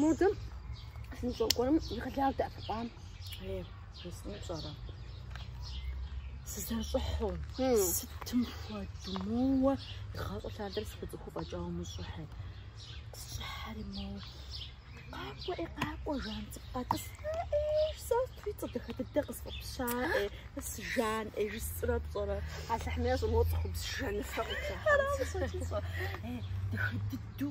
Модэм сынщӏокӏуэрым и къалар дэӏэпыкъуам. Ей, жысӏэну пщӏэрэ? Сызэрыщӏыхьу, сытым хуэду моуэ игъащӏэ лъандэрэ сыкъицӏыхуу фӏэкӏа умыщӏыхьи. Сщӏыхьэри моуэ. Къакӏуэ, ӏей, къакӏуэ, жан цӏыкӏу къэтӏыс. Ей, сэ сыту цӏэ дахэ дыдэ къысфӏэпща, ӏей, си жан, ӏей, жысӏэрэ пщӏэрэ. Алыхьмейр щӏымыгъуэ цӏыхубз жаныфэ къыплъыхьэнт. Ей, дахэ дыдэу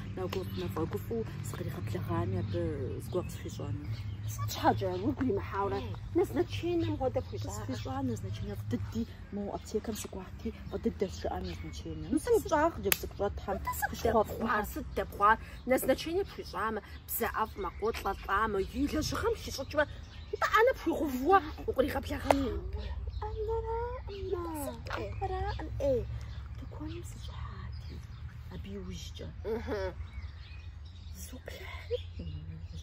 Нэгуэп нэфӏэгуфӏэу сыкъригъэблэгъами, абы зыгуэр къысхуищӏэну. Сыт щхьэкӏэ, уигу иримыхьауэрэ, назначенэм хуэдэ пхуищӏакъэ? Къысхуищӏа назначенэ фӏы дыди, мо аптекэм сыкӏуати, фӏы дыдэщ жыӏа назначенэм. Сыт сщӏа, хъыджэбз цӏыкӏу щӏэтхэм? Сыт дэпхъуар, сыт дэпхъуар, назначенэ пхуищӏамэ? Бзэ ӏэфӏмэ, къолӏэлӏамэ, и лэжьыгъэм хищӏыкӏмэ, нтӏэ ӏэнэ пхуигъэувуэ укъригъэблэгъэну? Тыкуэным сыщӏыхьати, абы иужькӏэ. Зызоплъыхьри,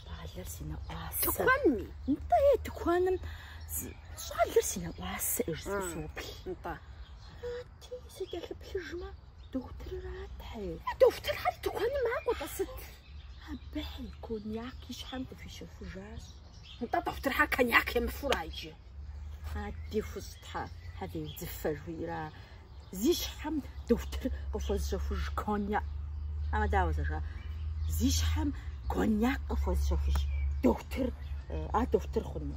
щӏалэр си нэӏуасэ. Тыкуэнми? Нтӏэ, е тыкуэным щӏалэр си нэӏуасэ иджы соплъ. Нтӏэ. Ти сыкӏэлъыплъыжмэ, дохутыррат, тхьэ. Дохутырхэр тыкуэным макӏуэ-тӏэ сыт? Абыхьи коньяк и щхьэм къыхуищэхужащ. Нтӏэ дохутырхэр коньяк емыфэу ара иджы? Ади хущтхьэ, хьэвеудзыфэ жиӏэра. Зи щхьэм дохутыр къыхуэзыщэхуж коньяк. Амэ дауэ зэжа? Зи щхьэм коньяк къыхуэзыщэхуж дохутыр, а дохутыр хъуну?